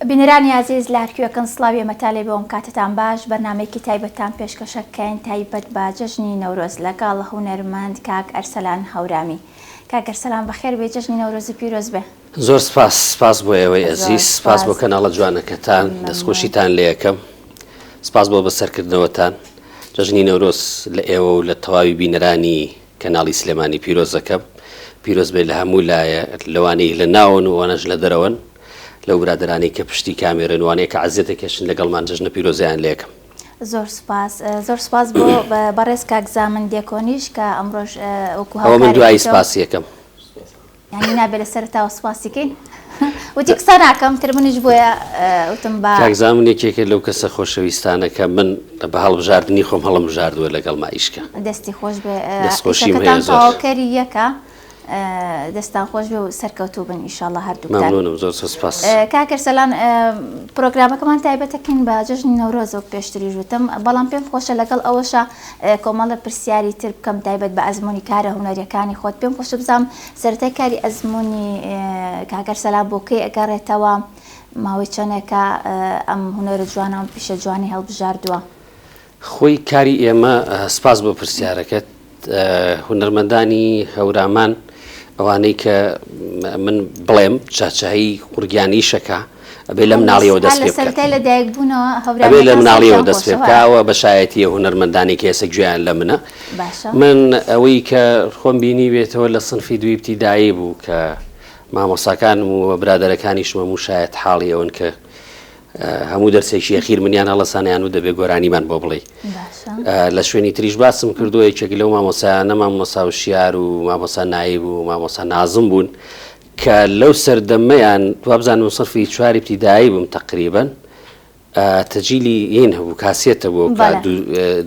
بینەرانی ئازیز لەهەرکوێکن سڵاوی مەتالەبێ ومکاتتان باش بەرنامەیەکی تایبەتتان پێشکەشەکەین تایبەت بە جەژنی نەورۆز لەگەڵ هونەرمەند کاک ئەرسەلان هەورامی کاک ئەرسەلان بەخێربێی جەژنی نەورۆزی پیرۆزبێ. زۆر سپاس سپاس بۆ ئێوەی ئەزیز سپاس بۆ کەناڵە جوانەکەتان دەستخۆشیتان لێئەکەم سپاس بۆ بەسەرکردنەوەتان جەژنی نەورۆز لە ئێوە و لە تەواوی بینەرانی کەناڵی سلێمانی پیرۆزەکەم پیرۆز بێت لە هەموو لایە لەوانەی لە ناوەن و وانەش لە دەرەوەن لەو برادرانی کە پشتی کامێرن وانەیە کە عزیێتە کەشن لەگەڵمان جژنە پیرۆزیان لەکەم. زۆر سپاس زۆر سپاس بۆ بەڕێز کاک زامن دێکۆنیش کە ئەمڕۆژ وەکو هاوکاری من دوایی سپاس یەکەم یانی نابێ لە سەرتاوە سوپاسی کەین وتی قسە ناکەم تر منیش بۆیە وتم با کاکزا من یەکێکە لەو کەسە خۆشەویستانە کە من بە هەڵبژاردنی خۆم هەڵم بژاردووە لەگەڵ مائیشکە دەستی خۆش بێ دەستخۆشیم هەیە ئیشەکەتان زۆر. تەواوکەری یەکە ئە، دەستان خۆش بێ و سەرکەوتوو بن ئیشاڵڵا هەردووکتان مەمنونم زۆر زۆر سپاس کاکر سەلان ئە، پرۆگرامەکەمان تایبەتەکەین بە جەژنی نەورۆز وەک پێشتریش وتم بەڵام پێم خۆشە لەگەڵ ئەوەشا کۆمەڵە پرسیاری تر بکەم تایبەت بە ئەزموونی کارە هونەریەکانی خۆت پێم خۆشە بزانم سەرەتای کاری ئەزموونی کاک ئەرسەلان بۆ کەی ئەگەڕێتەوە ماوەی چەنێکە ئەم هونەرە جوانە ئەم پیشە جوانی هەڵبژاردووە خۆی کاری ئێمە سپاس بۆ پرسیارەکەت هونەرمەندانی هەورامان ئەوانەی کە من بڵێم چاچایی قورگیانیشەکە ئەبێ لە مناڵیەوە دەست ئەبێ لە مناڵیەوە دەست پێ بکەوە بە شایەتیە هوەرمەندانی کێسە گوێیان لە منە من ئەوەی کە خۆم بینی بێتەوە لە سنفی دویبتی دایی بوو کە مامۆساکان و برادەرەکانی شمە و شایەت حاڵی ئەون کە هەموو دەرسێکی یەخیر منیان هەڵسانیان و دەبێ گۆرانیمان بۆ بڵێ لە شوێنی تریش باسم کردووە یەکێک لەو مامۆسایانە مامۆسا و شیار و مامۆسا نایی بوو مامۆسا نازم بوون کە لەو سەردەمەیان وابزانم سەفی چواری ابتیدایی بووم تەقریبەن تەجیلی یین هەبوو کاسێتە بۆ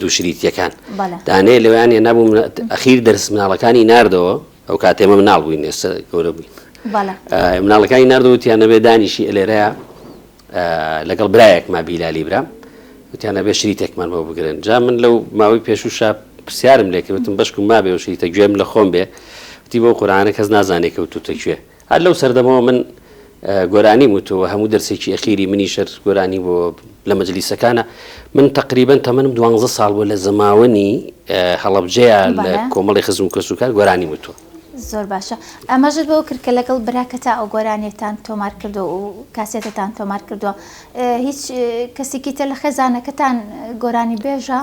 دووشریتیەکان دانێ لەویان هێ نابووم ئەخیر دەرس مناڵەکانی نردەوە ئەو کاتێمە مناڵ بووین ئێستا گەورە بووین مناڵەکانی نردەوتیانەبێ دانیشی ئەلێرەیە لەگەڵ برایەکما بیلالی برام وتیان ئەبێ شریتێکمان بۆ بگرن جا من لەو ماوەی پێشوشە پرسیارم لێکردتم بەشکم مابێ و شریتە گوێم لە خۆم بێ وتی بۆ قورانە کەس نازانێک و توتە کوێ هەر لەو سەردەمەوە من گۆرانی وتەوە هەموو دەرسێکی ئەخیری منی شەر گۆرانی بۆ لە مەجلیسەکانە من تقریبن تەمەنم دوانزە ساڵ بۆ لە زەماوەنی هەڵبجەیە لە کۆمەڵی خزم و کەسوکار گۆرانی وتوە زۆر باشە ئاماژەت بەوە کرد کە لەگەڵ براکەتا ئەو گۆرانیەتان تۆمار کردووە و کاسێتەتان تۆمار کردووە هیچ کەسێکی تر لە خێزانەکەتان گۆرانی بێژە؟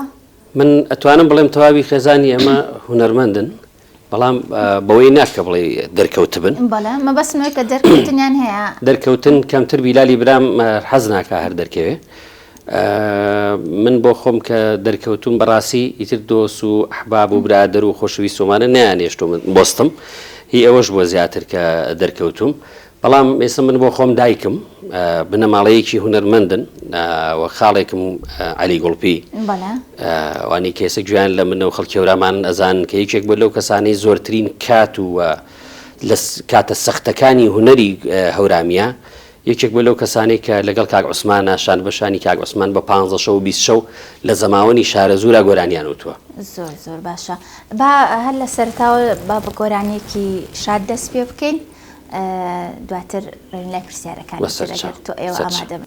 من ئەتوانم بڵێم تەواوی خێزانی ئەمە هونەرمەندن بەڵام بەوەی ناکە بڵێ دەرکەوتبن بەڵام مە بەسمەوەی کە دەرکەوتنیان هەیە دەرکەوتن کەمتر بیلالی برام حەز ناکە هەر دەرکەوێ من بۆ خۆم کە دەرکەوتووم بەڕاستی ئیتر دۆست و ئەحباب و برادەر و خۆشەویست ومانە نەیانێشتووم بۆستم هی ئەوەش بووە زیاتر کە دەرکەوتووم بەڵام ئێستا من بۆ خۆم دایکم بنەماڵەیەکی هونەرمەندن و خاڵێکم عەلی گوڵپی وانی کێسە گوێیان لە منە و خەڵکێورامان ئەزان کە یەکێک بۆ لەو کەسانەی زۆرترین کات و لە کاتە سەختەکانی هونەری هەورامیە یەکێک بووە لەو کەسانەی کە لەگەڵ کاک عوسمانە شان بە شانی کاک عوسمان بە پانزە شەو و بیست شەو لە زەماوەنی شارەزوورا گۆرانیان وتووە. زۆر زۆر باشە با هەر لە سەرەتاوە با بە گۆرانیەکی شاد دەست پێ بکەین دواتر بەرین لای پرسیارەکانی تر ئەگەر تۆ ئێوە ئامادە بن.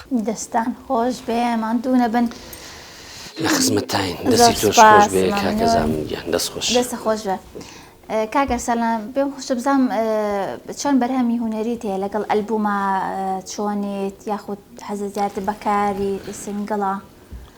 دەستان خۆش بێ ماندوو نەبن. لە خزمەتتاین دەستی تۆش خۆش بێ کاکە زامن گیان دەست خۆش. دەستت خۆش بێ کاک ئەرسەلان پێم خۆشە بزانم چۆن بەرهەمی هونەریت هەیە لەگەڵ ئەلبوومە چۆنیت یاخود حەزت زیاتر بە کاری سینگڵە؟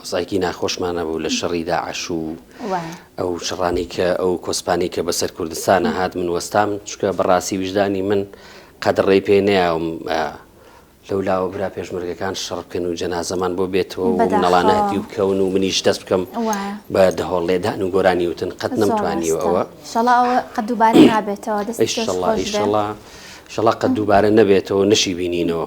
ئۆزاکی ناخۆشمان ئەبوو لە شەڕی داعش و ئەو شەڕانی کە ئەو کۆسپانی کە بەسەر کوردستانە هات من وەستام چکە بەڕاستی وژدانی من قەدڕێی پێ نەیاوم لەو لاوە برا پێشمەرگەکان شەڕ بکەن و جەنازەمان بۆ بێتەوە منەڵانە هەتیو بکەون و منیش دەست بکەم بە دەهۆڵ لێدان و گۆرانی وتن قەت نەمتوانیەوە ئەوە قەدوبارە نابێتەوە شڵا قەت دووبارە نەبێتەوە نشی بینینەوە.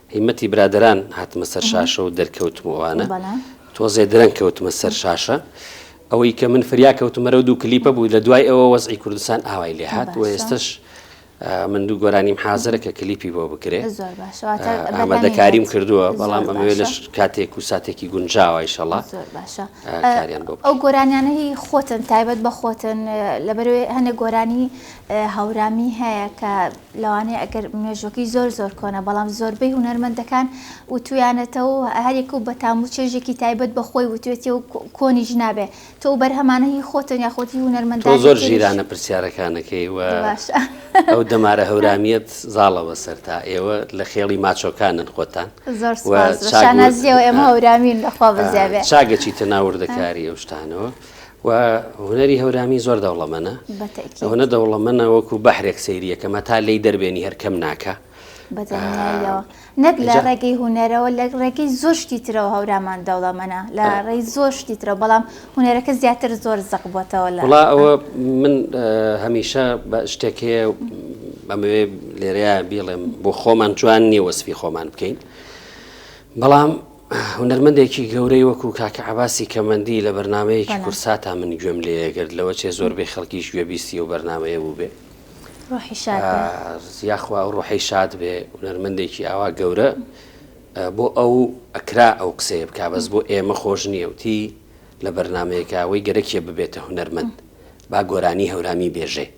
هیمەتی برادەران هاتمە سەر شاشە و دەرکەوتم و ئەوانە تۆزێ درەنگ کەوتمە سەر شاشە ئەوەی کە من فریا کەوتمەرە و دوو کلیپە بوو لە دوای ئەوە وەزعی کوردستان ئاوای لێ هات و ئێستش من دوو گۆرانیم حازرە کە کلیپی بۆ بکرێت ئامادەکاریم کردووە بەڵام ئەمەوێ لەش کاتێک و ساتێکی گونجاوایشەڵا ئەو گۆرانیانەی خۆتن تایبەت بە خۆتن لەبەروێ هەنێک گۆرانی هاورامی هەیە کە لەوانەیە ئەگەر مێژوەکەی زۆر زۆر کۆنە بەڵام زۆربەی هونەرمەندەکان وتویانەتەوە هەریەکە و بەتام و چێژێکی تایبەت بە خۆی وتێتی و کۆنیش نابێ تۆ بەرهەمانە هی خۆتن یاخود هی هونەرمەندان زۆر ژیرانە پرسیارەکانەکەی و ئەو دەمارە هەورامیت زاڵە بەسەر تا ئێوە لە خێڵی ماچۆکانن خۆتان زۆرشانازیەوە ئێمە هەورامین لەخوا بزیێ چاگەچی تەناوردەکاری ئەو شتانەوە. وە هونەری هەورامی زۆر دەوڵەمەنە ئەوەنە دەوڵەمەنە وەکو بەحرێک سەیریەکە مەتا لێی دەربێنی هەر کەم ناکە بەدڵنیاییەوە نەک لە ڕێگەی هوەرەوە لە ڕێگەی زۆر شتی ترەوە هەورامان دەوڵەمەە لە ڕێی زۆر شتی ترە بەڵام هوەرەکە زیاتر زۆر زەق بووتەوە لە وڵا ئەوە من هەمیشە شتێک هەیە بەمەوێ لێرەیە بیڵێم بۆ خۆمان جوان نیە وەسفی خۆمان بکەین بەڵام هونەرمەندێکی گەورەی وەکو کاکە عەباسی کەمەندی لە بەرنامەیەکی کوردساتا من گوێم لێیەگرت لەوە چێ زۆربەی خەڵکیش گوێبیستی ئەو بەرنامەیە بوو بێ یاخوا ئەو ڕۆحەی شاد بێ هونەرمەندێکی ئاوا گەورە بۆ ئەو ئەکرا ئەو قسەیە بک بەس بۆ ئێمە خۆش نییەوتی لە بەرنمەیەکەوەی گەرەکیە ببێتە هونەرمەند با گۆرانی هەورامی بێژێ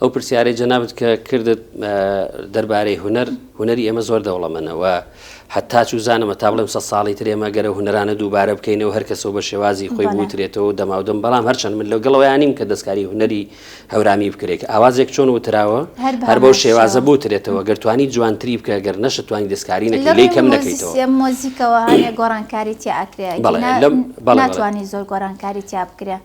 ئەو پرسیارەی جەنابەت کە کردت دەربارەی هوەر هوەری ئێمە زۆر دەوڵەمەنەوە هەتا چوو زانمە تا بڵێم سە ساڵی ترێمە گەرە هوەرانە دووبارە بکەینەوە هەر کەسەوە بە شێوازی خۆی بوترێتەوە دەماودەم بەڵام هەرچەند من لەو گەڵەوەیانیم کە دەستکاری هوەری هەورامی بکرێت ئاوازێک چۆن وتراوە هەر بەو شێوازە بوترێتەوە گەرتوانی جوانتری بکە گەر نەشە توانی دەستکاری نەکە لی کەم نەکەیتەوە مۆزیکەوە هەیە گۆڕانکاری تیاکرێت بەڵێ لەم بەڵێ زۆر گۆرانکاری تیا بکرێت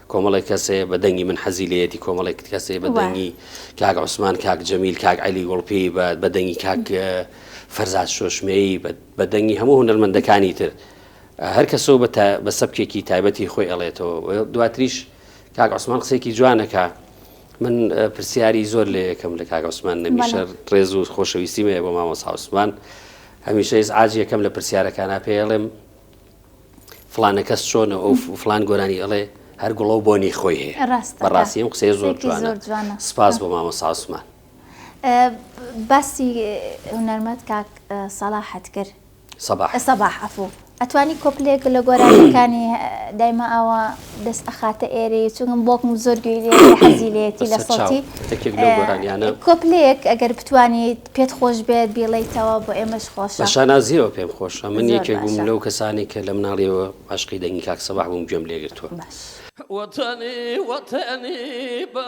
کۆمەڵێک کەس هەیە بە دەنگی من حەزی لێیەتی کۆمەڵێک کەس هەیە بە دەنگی کاک عوسمان کاک جەمیل کاک عەلی گوڵپی بە دەنگی کاک فەرزاد شۆشمەیی بە دەنگی هەموو هونەرمەندەکانی تر هەر کەسەوە بە سەبکێکی تایبەتی خۆی ئەڵێتەوە دواتریش کاک عوسمان قسێکی جوانەکە من پرسیاری زۆر لە یەکەم لە کاک عوسمان نەمیشە ڕێز و خۆشەویستی مەیە بۆ مامۆسا عوسمان هەمیشە ئێز ئاج یەکەم لە پرسیارەکانە پێڵێم فلانە کەس چۆنە ئەو فلان گۆرانی ئەڵێ هەر گوڵە و بۆنی خۆی هەیە بەڕاستیم قسەی زۆر جوانە سپاس بۆ مامە ساسمان باسی هونەرمەت کاک سەڵاحەت کرد سەباح ئەفو ئەتوانی کۆپلێک لە گۆرانەکانی دایمە ئاوا دەست ئەخاتە ئێرێ چونکم بۆکم زۆر گوێ لێ حەزی لێتی لە سەڵتی کۆپلەیەک ئەگەر بتوانیت پێت خۆش بێت بیڵیتەوە بۆ ئێمەش خۆش شانازیەوە پێم خۆشە من یەکێک بووم لەو کەسانی کە لە مناڵیەوە عشقی دەنگی کاک سەباح بووم گوێم لێگرتووە وەتەنی وەتەنی بە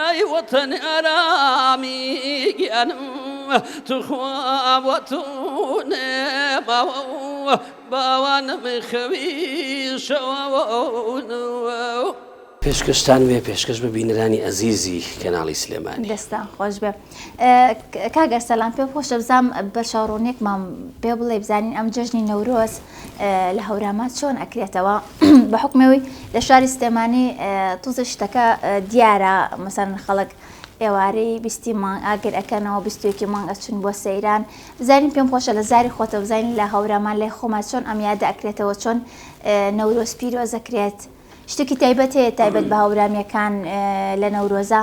ئەی وەتەنی ئارامی گیانم توخوا بۆ تۆ نەماوە و باوانم خەوی شەواون. پێشکەشتان بێ پێشکەش بە بینەرانی ئەزیزی کەناڵی سلێمانی. دەستان خۆش بێ کاک ئەرسەلان پێم خۆشە بزانم بەرچاو ڕوونیەکمان پێ بڵێی بزانین ئەم جەژنی نەورۆز لە هەوراما چۆن ئەکرێتەوە بە حکمەوەی لە شاری سلێمانی توزە شتەکە دیارە مەسەر خەڵک ئێوارەی بیستی مانگ ئاگر ئەەکەنەوە بیستێکی مانگ ئەچون بۆ سەیران بزانین پێم خۆشە لە زاری خۆتە بزانین لە هەورامان لای خۆمان چۆن ئەم یادە ئەکرێتەوە چۆن نەورۆز پیرۆزەکرێت شتێکی تایبەت هەیە تایبەت بە هەورامیەکان لە نەورۆزە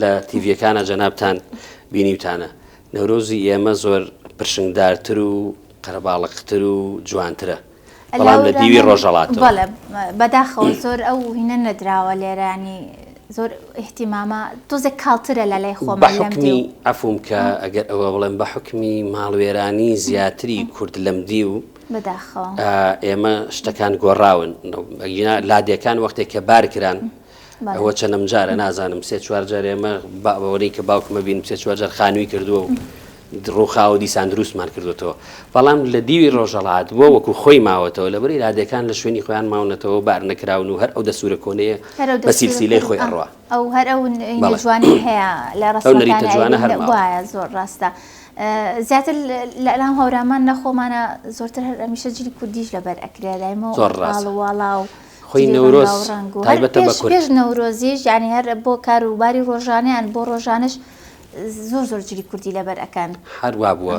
لە تیڤەکانە جەنابان بینیوتانە نەورۆزی ئێمە زۆر پرشنگدارتر و قەرەباڵقتر و جوانترە بەڵام لە دیوی ڕۆژەڵات بەداخەوە زۆر ئەو هینە نەدراوە لێرانی زۆر احتیمامە تۆزێک کاڵترە لە لای خۆ بەحکمی ئەفوم کە ئەگەر ئەوە بڵێن بە حکمی ماڵوێرانی زیاتری کورد لەم دی و ئێمە شتەکان گۆڕاون لادەکان وەختێک کە بارکران ئەوە چەنم جارە نازانم سێ چوار جار ئێمە باوەڕی کە باوکمە بین سێ چوار جار خانووی کردووە و ڕووخاوە دیسان دروستمان کردوێتەوە بەڵام لە دیوی ڕۆژەڵات بۆ وەکو خۆی ماوەتەوە لەبەر ئرادەکان لە شوێنی خۆیان ماونەتەوە بار نەکراون و هەر ئەو دەسوورە کۆنەیە بە سیلسیلەی خۆی ئەڕوە ئەو هەر ئەو جوانی هەیە لە ڕستەریتە جوانە هەر وایە زۆر ڕاستە. زیاتر لەلام هەورامان نەخۆمانە زۆرتر هەر ئەمیشە جلی کوردیش لەبەر ئەکرێ لایمەوە ڕاڵواڵاو. خۆی نەورۆز تایبەتە بە کورد. پێش نەورۆزیش یانی هەر بۆ کار و باری ڕۆژانەیان بۆ ڕۆژانەش زۆر زۆر جلی کوردی لەبەر ئەکەن. هەر وا بووە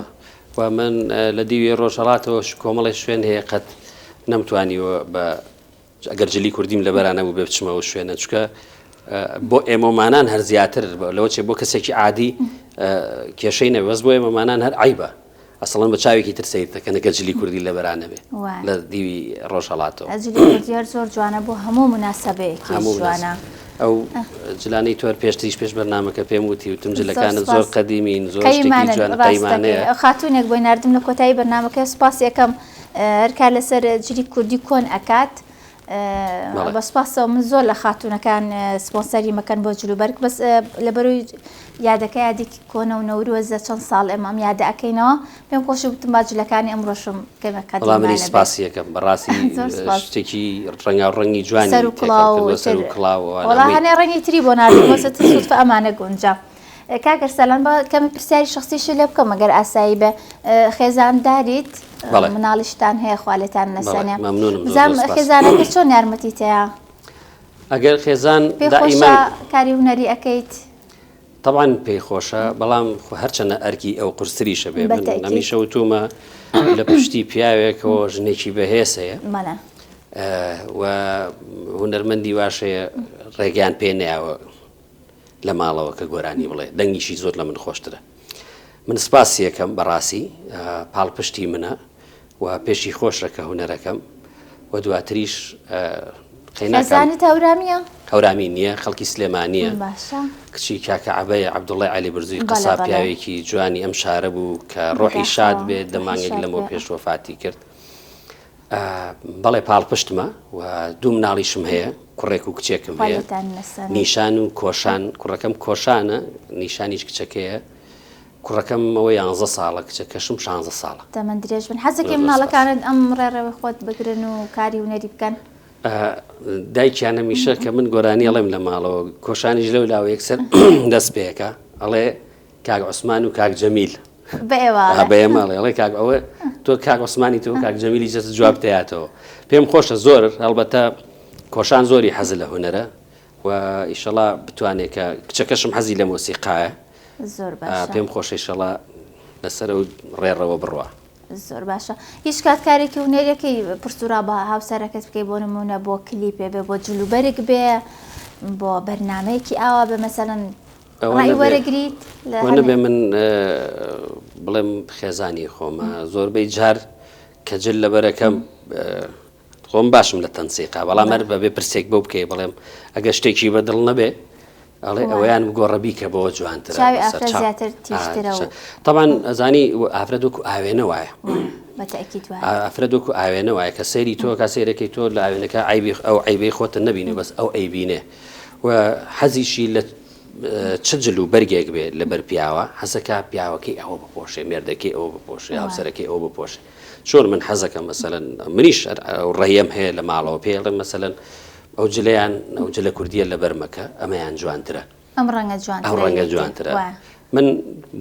و من لە دیوی ڕۆژهەڵاتەوە کۆمەڵی شوێن هەیە قەت نەمتوانیوە بە ئەگەر جلی کوردیم لە بەرانە بوو بێ بچمەوە شوێنە چکە بۆ ئێمەمانان هەر زیاتر لەوەچێ بۆ کەسێکی عادی کێشەی نەوەز بۆ ئێمەمانان هەر عیبە. ئەسڵەن بە چاوێکی تر سەیرت دەکەن کە جلی کوردی لە بەرا نەبێ وایە لە دیوی ڕۆژهەڵاتەوە ئە جلی کوردی هەر زۆر جوانە بۆ هەموو مناسەبەیەکی هەموو جوانە مناسب. ئەو اه. جلانەی تۆر پێشتریش پێش بەرنامەکە پێم وتی وتم زۆر جلەکانت زۆر سوپاس. قەدیمین زۆر شتێکی قەیمانن جوان ڕاست دەکەی قەیمانەیە ئە خاتوونێک بۆی ناردم لە کۆتایی بەرنامەکە سوپاسی ئەکەم اه، هەر کار لەسەر جلی کوردی کۆن ئەکات بە سوپاسەوە من زۆر لە خاتونەکان سپۆنسەری مەکەن بۆ جلو بەرگ بەس لە بەروی یادەکە یادێکی کۆنە و نەورۆزە چەند ساڵ ئێمە ئەم یادە ئەەکەینەوە پێم خۆش وتم باجلەکانی ئەم ڕۆشم کەمەکە منی سپاسیەکەم بەڕاستی شتێکی ڕەنگا ڕەنگی جوانی سەر و کڵاوەوە ڕەنگی تری بۆ نادەمەسە ئەمانە گونجە. کاک ئەرسەلان با کەمێک پرسیاری شخصیشی لێ بکەم ئەگەر ئاسایی بێ ئە، خێزانداریت ئە، بەڵێ. مناڵیشتان هەیە خوا لێتان بەڵێ، نەسەنێ مەمنونم زۆر بزانم زۆر سپاس. خێزانەکە چۆن یارمەتیت هەیە ئەگەر خێزان پێی خۆشە دائیمەن کاری هونەری ئەکەیت طبعا پێی خۆشە بەڵام خۆ هەرچەنە ئەرکی ئەو قورستریشە بێ من بەتەئکید. هەمیشە وتومە لە پشتی پیاوێکەوە ژنێکی بەهێز هەیە مەلا ئە، و هونەرمەندی واش هەیە ڕێگەیان پێ نەیاوە لە ماڵەوە کە گۆرانی بڵێ دەنگیشی زۆر لە من خۆشترە من سپاسی یەکەم بەڕاستی پاڵپشتی منە و پێشی خۆشە کە هوەرەکەم و دواتریش قەینەزانێت هەورامیە هەورامی نییە خەڵکی سلێمانە کچی کاکە عبەیە عبدوڵی علی برزوی قسا پیاوێکی جوانی ئەم شارە بوو کە ڕۆحی شاد بێت دەمانگێک لەمەوە پێش وەفاتی کرد بەڵێ پاڵپشتمە و دوو مناڵیشم هەیە کوڕێک و کچێکم هەیە نیشان و کۆشان کوڕەکەم کۆشانە نیشانیش کچەکەیە کوڕەکەم ئەوە یانزە ساڵە کچە کەشم شانزە ساڵە تەمە درێژ بن حەزەکە مناڵەکانت ئەم ڕێڕەوە خۆت بگرن و کاری ونەری بکەن دایکیان هەمیشە کە من گۆرانی ئەڵێم لە ماڵەوە کۆشانیش لەو لاوە یەکسەر دەست پێەکە ئەڵێ کاگ عوسمان و کاک جەمیل بەێ ماڵێڵێ کاک ئەوە تۆ کاک عوسمانی تۆ کاک جەمیلی جەست جواب دەیاتەوە پێم خۆشە زۆر هەڵبەتە کۆشان زۆری حەز لە هوەرە و ئیشەڵا بتوانێت کە کچەکەشم حەزی لە مۆسیقاە پێم خۆشەی شەڵا لەسەر و ڕێڕەوە بڕە. زۆر باشە هیچ کات کارێکی و نێرەکەی پرسورا بە هاوسەرەکەت بکەی بۆ نمونە بۆ کلی پێ بێ بۆ جلوبەرگ بێ بۆ بەرنمەیەکی ئاوا بە مەسەن ڕای وەرەگریت لە ئەوە نەبێ من بڵێم خێزانی خۆمە زۆربەی جار کە جل لەبەرەکەم خۆم باشم لە تەنسیقا بەڵام هەر بەبێ پرسێک بۆ بکەی بڵێم ئەگە شتێکی بە دڵ نەبێ ئەڵێ ئەویان گۆڕەبی کە بەوە جوانتر تاوان ئەزانی ئافرەت وەکو ئاوێنە وایە ئافرەت وەکو ئاوێنە وایە کە سەیری تۆ کا سەیرەکەی تۆ لە ئاوێنەکە ئایبی ئەو عیبی خۆتە نبینێ بەس ئەو ئەیبینێ و حەزیشی لە چ جل و بەرگێک بێ لە بەر پیاوە حەزەکە پیاوەکەی ئەوە بپۆشێ مێردەکەی ئەوە بپۆشێ هاوسەرەکەی ئەوە بپۆشێ چۆن من حەزەکە مەسەەن منیش ڕێم هەیە لە ماڵەوە پێڵێ مەسەەن ئەو جلیان ئەو جلە کوردیە لە بەرمەکە ئەمەیان جوانترە ئەم ڕەنگە جوان ئەو ڕەنگە جوانترە من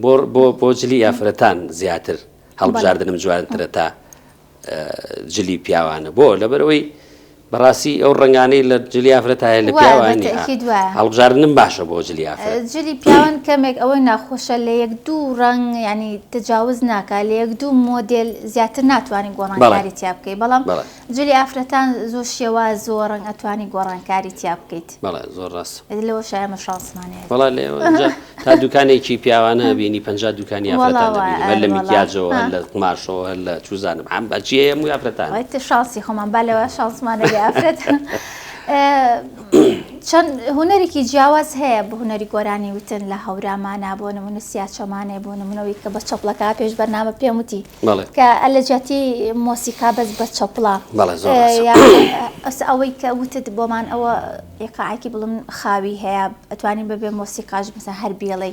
بۆ بۆ بۆ جلی یافرەتان زیاتر هەڵبژاردنم جوانترە تا جلی پیاوانە بۆ لەبەرەوەی بەڕاستی ئەو ڕنگانەی لە جلی ئافرەتایە لە پیاوانی هەڵبژاردنم باشە بۆ جلی جلی پیاوان کەمێک ئەوەی ناخۆشە لە یەک دوو ڕنگ ینی تجاوز ناکە لە یەک دوو مۆدل زیاتر ناتوانین گۆڕانکاری تیا بکەیت بەڵام جلی ئافرەتان زۆر شێواز زۆر ڕنگ ئەتوانی گۆڕانکاری تیا بکەیت. بەڵێ زۆر ڕاست. ئەدی لەوە شایە ئێمە شانسمان هەیە. وەڵا لێ ئەوەنجا تا دوکانێکی پیاوانە ئەبینی پەنجا دوکانی ئافرەتان دەبینی وەڵا وایە هەر لە ئەرێ وەڵا میکیاجەوە هەر لە قوماشەوە هەر لە چوزانم عام هەرچی هەیە هەمووی ئافرەتانە. وای تە شانسی خۆمان با لەوە شانسمان هەبێ ئافرەت چەند هونەرێکی جیاواز هەیە بە هونەری گۆرانی وتن لە هەورامانا بۆ نمونە سیاچەمانێ بۆ نمونە ئەوی کە بە چەپڵەکا پێش بەرنامە پێم وتی کە لە جیاتی مۆسیکا بەس بە چەپڵە ئەس ئەوەی کە وتت بۆمان ئەوە ئێقاعکی بڵم خاوی هەیە ئەتوانین بەبێ مۆسیقاش بسە هەر بیڵێ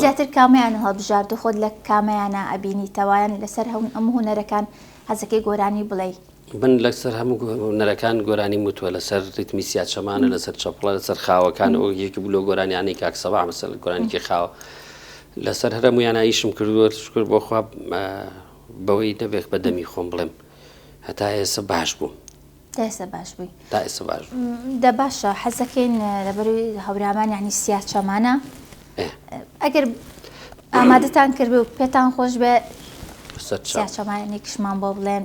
زیاتر کامیان هەڵبژارد خۆت لە کامیانە ئەبینیتەوەیان لەسەر هەون ئەم هوەرەکان حەزەکەی گۆرانی بڵێ من لەسەر هەموو هونەرەکان گۆرانی وتوە لەسەر ریتمی سیاچەمانە لەسەر چەپڵە لەسەر خاوەکان ئەو یەکی بلۆ گۆرانیانی کاک سەبا مەسەل گۆرانیکی خاوە لەسەر هەرمویانە ئیشم کردووە شکر بۆ خواب بەوەی نەبێک بە دەمی خۆم بڵێم هەتا ئێستا باش بوو داسە باش بووی تا ئێستا باش دە باشە حەزەکەین لەبەروی هەورامان یعنی سیاچەمانە ئەگەر ئامادەتان کرد و پێتان خۆش بێ سیاچەمانێکشمان بۆ بڵێن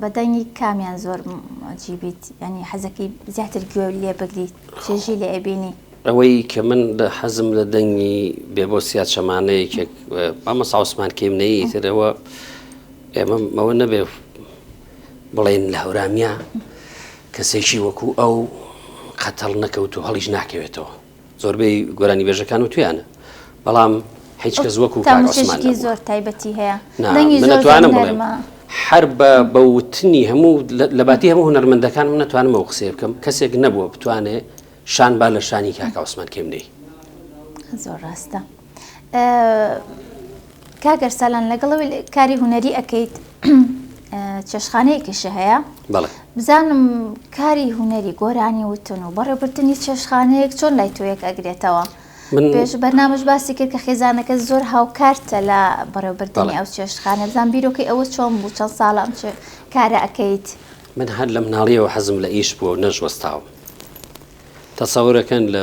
بە دەنگی کامیان زۆر جی بیت یانی حەزەکی زیاتر گوێ لێ بگریت چێژی لێ ئەبینی؟ ئەوەی کە من لە حەزم لە دەنگی بێبۆسیا چەمانەیەکێک مامە ساوسمان کەیم نەیە ترەوە ئێمە ئەوە نەبێ بڵێن لە هەورامیا کەسێکی وەکو ئەو قەتەڵ نەکەوت و هەڵیش ناکەوێتەوە زۆربەی گۆرانیبێژەکان و توێیانە بەڵام هیچ کەس وەکو تاموسێکی زۆر تایبەتی هەیە نەتوانم بڵێم هەر بە بەوتنی هەموو لەباتی هەموو هەنەرمەندەکان من نەتوانمەوە قسێ بکەم کەسێک نەبووە بتوانێ شان با لە شانی کاکە عوسمان کێمنەی زۆر ڕاستە. کاک ئەرسالان لەگەڵ کاری هونەری ئەەکەیت چێشخانەیەکیش هەیە بزانم کاری هونەری گۆرانی وتن و بەڕێبردننی چێشخانەیەک چۆن لای تۆیەک ئەگرێتەوە پێش بەرنامەش باسی کرد کە خێزانەکە زۆر هاوکارتە لە بەڕێبردننی ئەو چێشخانە بزان بیرۆکەی ئەوە چۆن بوو چەند ساڵام کارە ئەەکەیت من هەر لە مناڵیەوە حەزم لە ئیش بووە نەشوەستاوم تەسەورەکەن لە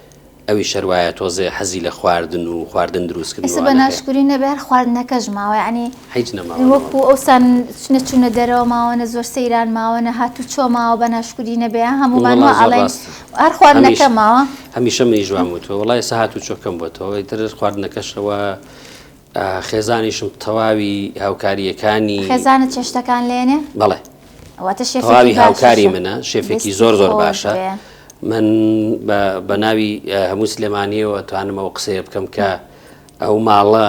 ئەویش هەر وایە تۆزێ حەزی لە خواردن و خواردن دروست کردنەوە ئێستا بە هەیە. ناشکوری نەبێ هەر خواردنەکەش ماوە یانی هیچ نەماوە نەوە. وەکو ئەوسان نە چونە دەرەوە ماوە نە زۆر سەیران ماوە نە هاتوچۆ ماوە بە ناشکوری نەبێ ها هەموومان وەڵا وا زۆر ئەڵێین ڕاستە هەر هەمیش خواردنەکە ماوە. هەمیشە منیش وام وتوە وەڵا ئێستا هاتوچۆ کەم بۆتەوە ئیتر خواردنەکەش ئەوە. خێزانیشم تەواوی هاوکارییەکانی. خێزانت چێشتەکان لێنێ؟ بەڵێ. واتە شێفێکی باشە. تەواوی هاوکاری منە، شێفێکی زۆر زۆر باشە. شێفێکی زۆر زۆر باشە. من بە ناوی هەموو سلێمانییەوە ئەتوانم ئەو قسەیە بکەم کە ئەو ماڵە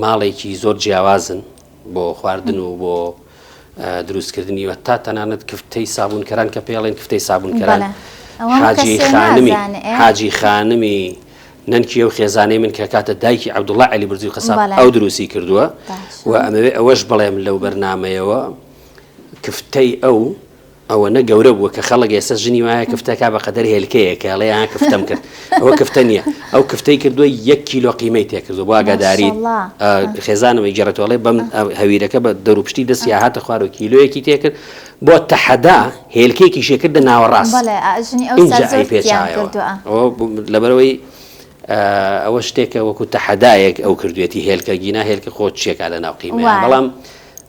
ماڵێکی زۆر جیاوازن. بۆ خواردن و بۆ دروستکردنی و تا تەنانەت کفتەی سابوونکەران کە پێڵێن کفتەی سابوونکەران حاجی خانمی حاجی خانمی نەنکی و خێزانەی من کە کاتە دایکی عبدوڵە علی برزی و قەسا ئەو دروستی کردووە و ئەمەوێ ئەوەش بڵێم لەو بەرنمەیەوە کفتەی ئەو ئەوەنە گەورە بووە کە خەڵک ئێستا ژنی وایە کفتە کا بە قەدەر هێلکەیەک کە ئەڵێ ئا کفتەم کرد ئەوە کفتە نییە ئەو کفتەی کردووە یەک کیلۆ قیمەی تێ کردووە بۆ ئاگاداری خێزانەوەی گێڕێتەوە ئەڵێ بەم هەویرەکە بە دەروپشتی دەستی هاتە خوار و کیلۆیەکی تێ کرد بۆ تەحەدا هێلکێکی شێکردە ناوەڕاست بەڵێ ژنی ئەو اینجا ئەی پێچیان پێچایەوە کردووە ئەوە بوو لەبەرەوەی ئەوە شتێکە وەکو تەحەدایەک ئەو کردوێتی هێلکە گینا هێلکە خۆ چیەکە لە ناو قیمەیان وایە. بەڵام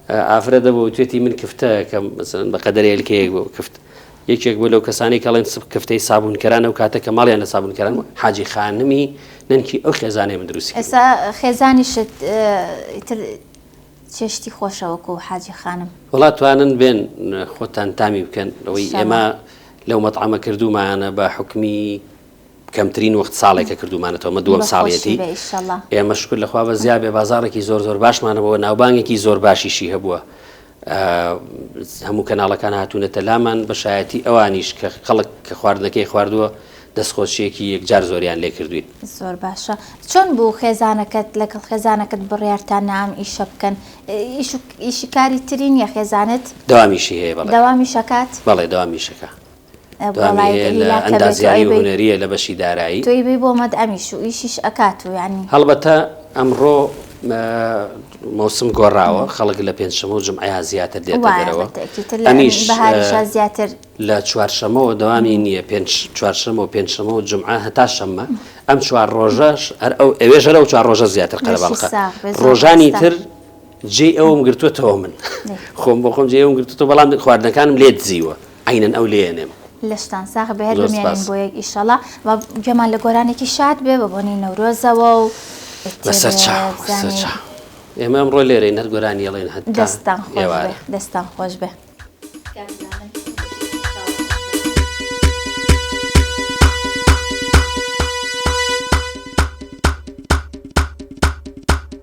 ئافرەت دەبوو بتوێتی من کفتەکەم مەسەن بە قەدەر هێلکەیەک بۆ کفت یەکێک بۆ لەو کەسانی کەڵێن سب کفتەی سابونکەران ئەو کاتە کە ماڵیان لە سابونکەران حاجی خانمی نەنکی ئەو خێزانێ من دروستی ئێسا خێزانیشت چێشتی خۆشەوەکو و حاجی خانم وڵات توانن بێن خۆتان تامی بکەن لەوەی ئێمە لەو مەتعامە کردومانە بە حکمی کەمترین وەخت ساڵێکە کردومانەتەوە مە دووەم ساڵیەتی ئێمە شکر لە خواوە زیاد بێ بازارێکی زۆر زۆر باشمانەوە ناوبانگێکی زۆر باشیشی هەبووە هەموو کەناڵەکان هاتوونەتە لامان بەشایەتی ئەوانیش کە خەڵک کە خواردنەکەی خواردووە دەستخۆشیەکی یەکجار زۆریان لێ کردوین زۆر باشە چۆن بوو خێزانەکەت لەگەڵ خێزانەکەت بڕیارتان نام ئیشە بکەن ئیشکاری ترین یە خێزانت داوامیشی هەیە داوامیشەکات بەڵێ داوامیشەکە دوامیەیە لە ئەندازیاری و هونەرییە لە بەشی دارایی. هەڵبەتە ئەمڕۆ مەوسم گۆڕاوە، خەڵک لە پێنجشەممە و جومعەیا زیاتر دێتە دەرەوە، ئەمیش لە چوارشەممەوە دەوامی نییە، چوارشەممە و پێنجشەممە و جومعە هەتا شەممە، ئەم چوار ڕۆژەش ئەوێ ژەرە و چوار ڕۆژە زیاتر قەرەباڵغە، ڕۆژانی تر جێی ئەوم گرتووەتەوە من خۆم بۆ خۆم جێ ئەوم گرتووە، بەڵام خواردنەکانم لێ دزیوە. عەینەن ئەو لێیەنێم. لەشتان ساغ بێ هەر بمێنن بۆ یەک ئیشەڵا و گوێمان لە گۆرانێکی شاد بێ بە بۆنەی نەورۆزەوە و بەسەر چا بەسەر چا ئێمە ئەمڕۆ لێرەین هەر گۆرانی ئەڵێن هەتا دەستان خۆش بێ ئێوارە. دەستان خۆش بێ.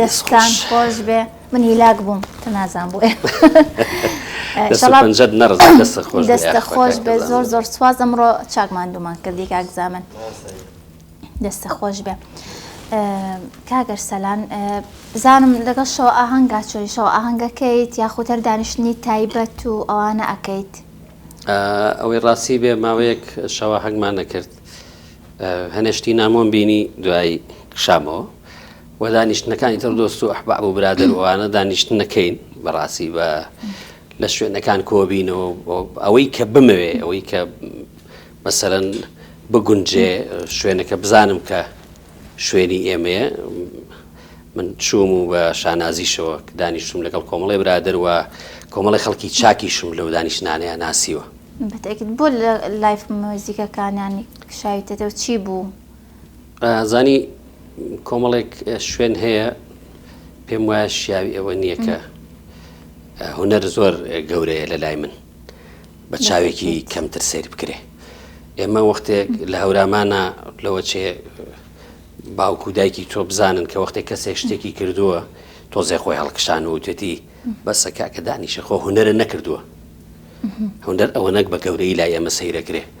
دەستان خۆش بێ من هیلاک بووم تە نازان بوو دەستە خۆش بێ زۆر زۆر سواز ئەمڕۆ چاکمان دومان کردی کاکزامن دەستت خۆش بێ کاک ئەرسەلان بزانم لەگەڵ شەوە ئاهەنگا چۆی شەوە ئاهەنگەکەیت یاخود هەر دانیشتنی تایبەت و ئەوانە ئەکەیت ئەوەی ڕاستی بێ ماوەیەک شەوە هەنگمان نەکرد هەنێشتی نامۆم بینی دوایی شامەوە و دانیشتنەکانی تر دۆست و ئەحبا بۆ برادەوانە دانیشتن نەکەین بەڕاستی بە لە شوێنەکان کۆبینەوە ئەوەی کە بمەوێ ئەوەی کە مەسەلەن بگونجێ شوێنەکە بزانم کە شوێنی ئێمەیە من چووم و بە شانازیشەوە دانیشتم لەگەڵ کۆمەڵی برادر و کۆمەڵی خەڵکی چاکیشم لەو دانیشتانەیە ناسیوە بەتەکت بۆ لە لایف مۆزیکەکانیانی شاویتەتە و چی بوو؟ زانی کۆمەڵێک شوێن هەیە پێم وایە شیاوی ئەوە نییە کە هونەر زۆر گەورەیە لە لای من بە چاوێکی کەمتر سیر بکرێ ئێمە وەختێک لە هەورامانە لەوە چێ باوکو و دایکی تۆ بزانن کە وەختێک کەسێک شتێکی کردووە تۆزێ خۆی هەڵکشان و توێتی بەسە کاکە دانیشە خۆ هوەرە نەکردووە هەندەر ئەوە نەک بە گەورەی لای ئێمە سەیرەکرێ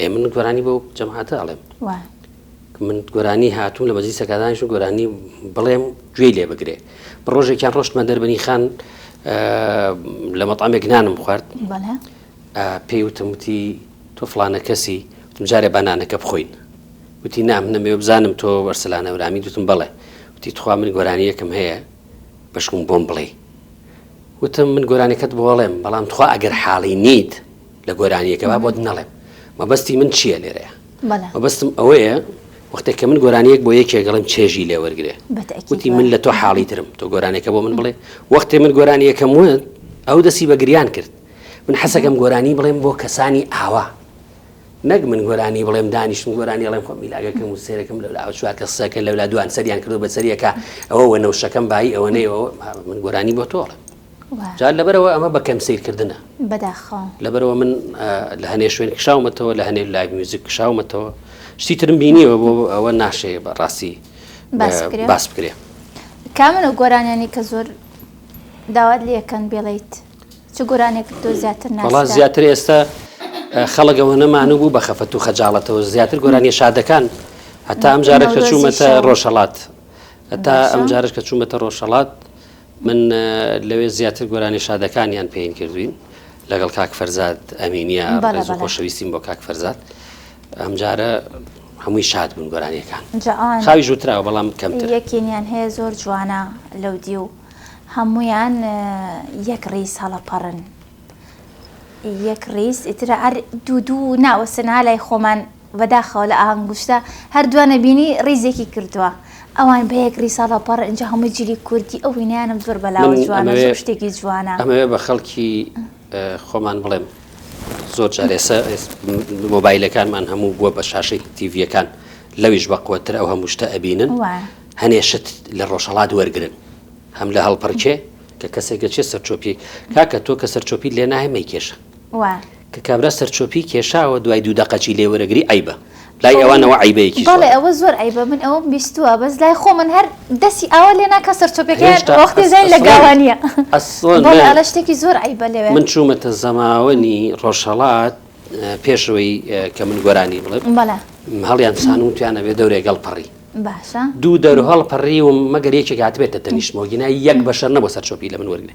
ئێ من گۆرانی بۆ جەماعەتە ئەڵێم من گۆرانی هاتوو لە مەجلی سەکدانش و گۆرانی بڵێم گوێی لێ بگرێ بە ڕۆژێکیان ڕۆشتمە دەربنی خان لە مەطامێک نانم خوارد پێی وتمتی تۆ فلانە کەسی جارێ بانانەکە بخۆین وتی نام نەمێ بزانم تۆ وەرسلانە ورامی دوتم بڵێ وتی تخوا من گۆرانیەکەم هەیە بەشکم بۆم بڵێ وتم من گۆرانەکەت بۆڵێم بەڵام تخوا ئەگەر حاڵی نیت لە گۆرانیەکە با بۆت نەڵێم مەبەستی من چییە لێرەیە مەبەستم ئەوەیە وەختێک کە من گۆرانیەک بۆ یەکێگەڵم چێژی لێ وەرگێ وتی من لە تۆ حاڵی ترم تۆ گۆرانێکە بۆ من بڵێ وەختێ من گۆرانیەکەم وت ئەو دەسی بە گریان کرد من حەسەکەم گۆرانی بڵێم بۆ کەسانی ئاوا نەک من گۆرانی بڵێم دانیشتم گۆرانی ڵێم خۆم میلاگەکەم و سێرەکەم لە چوار کە سەکە لەلا دوان سەریان کردو بە سەریەکە ئەوە وە نەوشەکەم بایی ئەوە نەیەوە من گۆرانی بۆ تۆڵە جا لەبەرەوە ئەمە بە کەم سەیرکردنە بەداخەوە لەبەرەوە من لە هەنێ شوێن کشاومەتەوە لە هەنێ لای میوزیک کشاومەتەوە شتی ترم بینیەوە بۆ ئەوە ناشەیە بە ڕاستی باس بکرێ کامنە گۆرانیانی کە زۆر داوات لەکەن بێڵیت چ گۆرانێک تۆ زیاتر ناڵا زیاتر ئێستا خەڵگەوە نەمانو بوو بە خەفەت و خەجاڵەتەوە زیاتر گۆرانی شادەکان هەتا ئەم جارە کە چوومەتە ڕۆژهڵات هەتا ئەم جارش کە چوومەتە ڕۆژهڵات من لەوێ زیاتر گۆرانی شادەکانیان پێین کردوین لەگەڵ کاک فەرزاد ئەمینە خۆشەویستیم بۆ کاک فەرزاد ئەمجارە هەمووی شاد بوون گۆرانیەکان خاوی ژوتراوە بەڵام کەم یەکینیان هەیە زۆر جوانە لەو دی و هەمویان یەک ڕیز هەڵەپەڕن یەک ڕیز ئیترە ئەر دوو دوو ناوەسنا لای خۆمان بەداخەوە لە ئهنگوشتە هەر دوا نەبینی ڕیزێکی کردوە ئەوان بە یەک ڕیز هەڵەپەڕ ئینجا هەمووی جلی کوردی ئەو وینایانەم زۆر بەلاوە من جوانە ئەمەوێ زۆر شتێکی جوانە. ئەمەوێ بە خەڵکی ئە خۆمان بڵێم زۆر جار ئێسە ئێس م مۆبایلەکانمان هەموو بووە بە شاشەی تیڤیەکان لەویش بە قوەتتر ئەو هەموو شتە ئەبینن وایە. هەنێ شت لە ڕۆژهەڵات وەرگرن هەم لە هەڵپەڕکێ کە کەسێک دەچێ سەرچۆپی کاکە تۆ کە سەرچۆپیت لێ ناهێ مەیکێشە وایە. کە کابرا سەرچۆپی کێشاوە دوای دوو دەقە جی لێ وەرەگری عەیبە لای ئەوانەوە عەیبەیەکی زۆرە. بەڵێ ئەوە زۆر عەیبە من ئەوەم بیستوە بەس لای خۆمن هەر دەسی ئاوا لێ ناکا سەرچۆپیەکەیان وەختی زین لە گاوانیە بەڵێ ئەلە شتێکی زۆر عەیبە لەوێ. من چومەتە زەماوەنی ڕۆژهەڵات پێش ئەوەی کە من گۆرانی بڵێم بەڵێ هەڵیان سان و تویان ئەوێ دەورێک هەڵپەڕی باشە دوو دەور هەڵپەڕیوم مەگەر یەکێک هاتبێتە تەنیشتمەوە گینا یەک بەشەر نەبوە سەرچۆپی لە من وەرگرێ.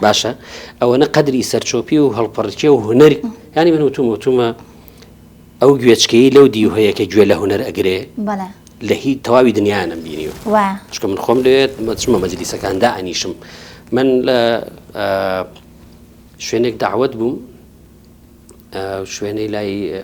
باشە ئەوەنە قەدری سەرچۆپی و هەڵپەڕکێ و هوەری ینی من وتوم وتومە ئەو گوێچکەی لەو دی هەیە کە گوێ لە هوەر ئەگرێ لە هی تەواوی دنیاانم بینیوە چکە من خۆم لێت مەچمە مەجلیسەکاندا ئەنیشم من لە شوێنێک داوت بووم شوێنەی لای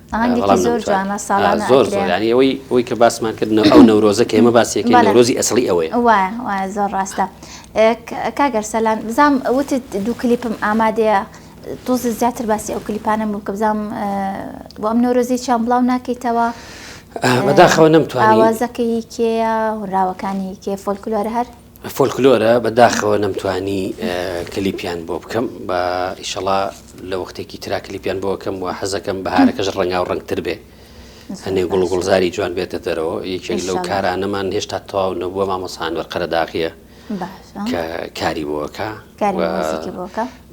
ئەوەی کە باسمان کرد ئەو نەورۆزە کە ئێمە باسیەکە نەورۆزی ئەسڵی ئەوەیە زۆر ڕاستە کاگەر سەلان بزانام وت دوو کلیپم ئامادەیە تۆزە زیاتر باسی ئەو کلیپانم بوو کە بزانام بۆ ئەم نەورۆزی چیان بڵاو ناکەیتەوە بەداخەوە نەمتوانوازەکەی کێە هوراوەکانی کێ فۆلکلۆر هەر فۆلکلۆرە بە داخەوە نەمتوانی کلیپیان بۆ بکەم بە ئیشەڵا لە وەختێکی ترا کلیپیان بۆکەم و حەزەکەم بەهارەکەش ڕەنگا و ڕنگتر بێ هەنێ گوڵ گوڵزاری جوان بێتە دەرەوە یەکێک لەو کارانەمان هێشتا تەواو نەبووە مامۆسانوەەر قەرەداغیە کە کاری بۆکە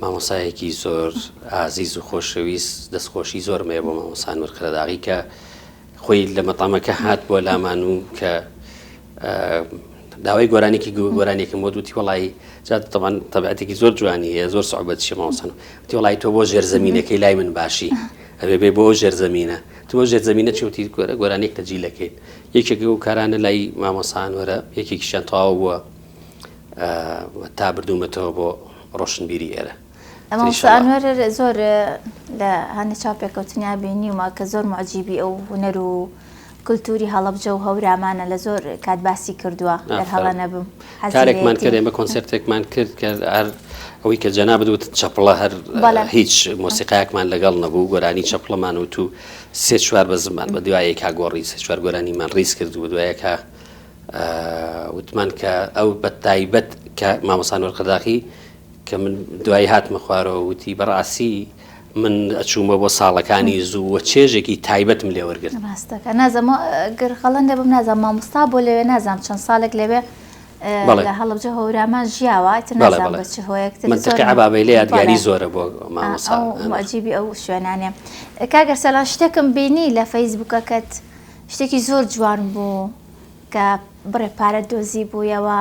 مامۆسایەکی زۆر ئازیز و خۆشەویست دەستخۆشی زۆرمەیە بۆ مامۆسانوەەر قەرەداغی کە خۆی لە مەتامەکە هات بۆ لامان و کە داوای گۆرانێکی گۆرانێکم بۆ دوتی وڵی جاتەوان تەبعاتێکی زۆر جوانی هەیە زۆر سعبەت شێماوسن تی وڵی تۆ بۆ ژێرزەمینەکەی لای من باشی ئەبێ بێ بۆ ژێرزەمینە تۆ ژێرزەمینە چوتی گۆرە گۆرانێک تەجیلەکەین یەکێک و کارانە لای مامۆسان وەرە یەکێکیشان تەواو بووە تا بردوومەتەوە بۆ ڕۆشنبیری ئێرە مامۆستا ئەنوەر زۆر لە هەندێک چاو پێکەوتنیا بینیومە کە زۆر معجیبی ئەو هونەر و کللتوری هەڵبجە و هەورامانە لە زۆر کات باسی کردووە هەڵە نەبم کارێکمان کرد ئێمە کۆنسرتێکمان کرد کە هەر ئەوەی کە جەنا بدوت چەپڵە هەر هیچ مۆسیقایەکمان لەگەڵ نەبوو گۆرانی چەپڵەمان و تو سێ چوار بە زمان بە دوایە کا گۆڕی سێ چوار گۆرانیمان ڕیز کرد و دوایەکە وتمان کە ئەو بە تایبەت کە مامۆسان وەرقەداخی کە من دوایی هاتمە خوارەوە وتی بەڕاستی من ئەچوومە بۆ ساڵەکانی زوو وە چێژێکی تایبەتم لێ وەرگرت ڕاستەکە نازەمە گەر خەڵەن دەبم نازان مامۆستا بۆ لەوێ نازانام چەند ساڵێک لەوێ لە هەڵبجە هۆرامان ژیاوە نازان بە چ هۆیەک منتەقی عبابەی لە یادگاری زۆرە بۆ مامۆساجیبی ئەو شوێنانێ کاگەر سەلان شتێکم بینی لە فەیسبوکەکەت شتێکی زۆر جوان بوو کە بڕێ پارە دۆزی بوویەوە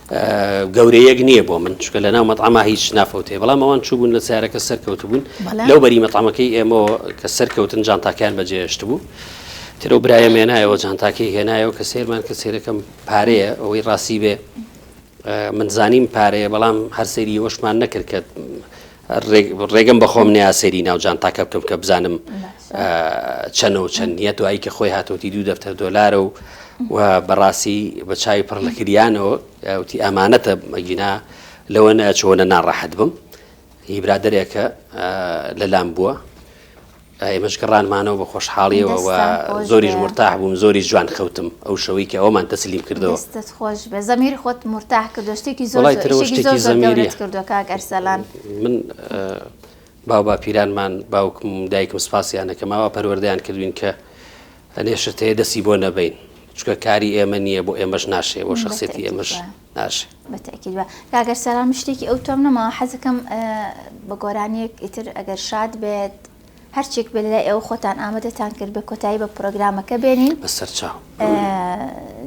گەورەیەک نییە بۆ من چکە لە ناو مەتعاما هیچ نافەوتێ بەڵام ئەوان چوبوون لە سیارەکە سەرکەوت بوون لەو بەری مەتعامەکەی ئێمەوە کە سەرکەوتن جانتاکەیان بەجێهێشت بوو ترە و برایە مێنایەوە جانتاکەی هێنایەوە کە سێرمان کە سێرەکەم پارەیە ئەوەی ڕاستی بێ من زانیم پارەیە بەڵام هەرسەری وەشمان نەکرد کە ڕێگەم بەخۆم نیا سەیری ناو جانتاکە بکەم کە بزانم چەنە و چەند نیە دوایی کە خۆی هاتوتی دوو دەفتەر دۆلارە و و بەڕاستی بە چاوی پڕ لە کریانەوە وتی ئەمانەتە مەگینا لەوە نە چۆنە ناڕەحەت بم هی برادێکە لەلام بووە ئێمەش گەڕانمانەوە بە خۆشحاڵیەوە و زۆریش مورتاح بووم زۆریش جوان خەوتم ئەو شەوەی کە ئەوەمان تەسلیم کردەوە. دەستت خۆش بێت زەمیر خۆت مورتاح کردووە شتێکی زۆر زۆر ئیشێکی زۆر زۆر گەورەت کردووە کاک ئەرسەلان. من باو باپیرانمان باوکم و دایکم سوپاسیان دەکەم ئاوا پەروەردەیان کردوین کە ئەێ شتەیە دەستی بۆ نەبەین چونکە کاری ئێمە نییە بۆ ئێمەش ناشێ بۆ شخصێتی ئێمەش ئاش. بە تەئکید وە کاکە سارا من شتێکی ئەوتۆم نەماوە حەزەکەم بە گۆرانیەک ئیتر ئەگەر شاد بێت هەرچێک بێت لای ئێوە خۆتان ئامەدەتان کرد بێ کۆتایی بە پرۆگرامەکە بێنین بە سەر چاو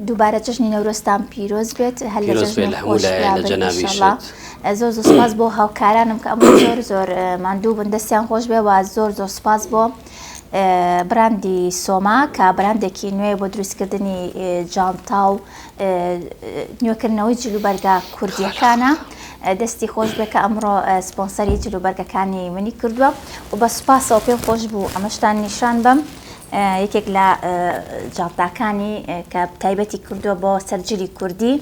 دووبارە جژنی نەورۆستان پیرۆز بێت هەر لە پیرۆز بێت لە هەموو لایەن لە جەنابی ئینشاءاللە. ئیشت. زۆر زۆر سپاس بۆ هاوکارانم کە ئەمڕۆ زۆر زۆر ماندوو بن دەستیان خۆش بێ و زۆر زۆر سپاس بۆ براندی سۆما کە براندێکی نوێ بۆ دروستکردنی جانتا و نوێکردنەوەی جلوبەرگە کوردیەکانە دەستی خۆش بێ کە ئەمڕۆ سپۆنسەری جلوبەرگەکانی منی کردووە و بە سوپاسەوە پێم خۆش بوو ئەمەشتان نیشان بم یەکێک لە جانتاکانی کە تایبەتی کردووە بۆ سەرجلی کوردی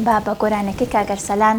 با بە گۆرانەکەی کاگەرسەلان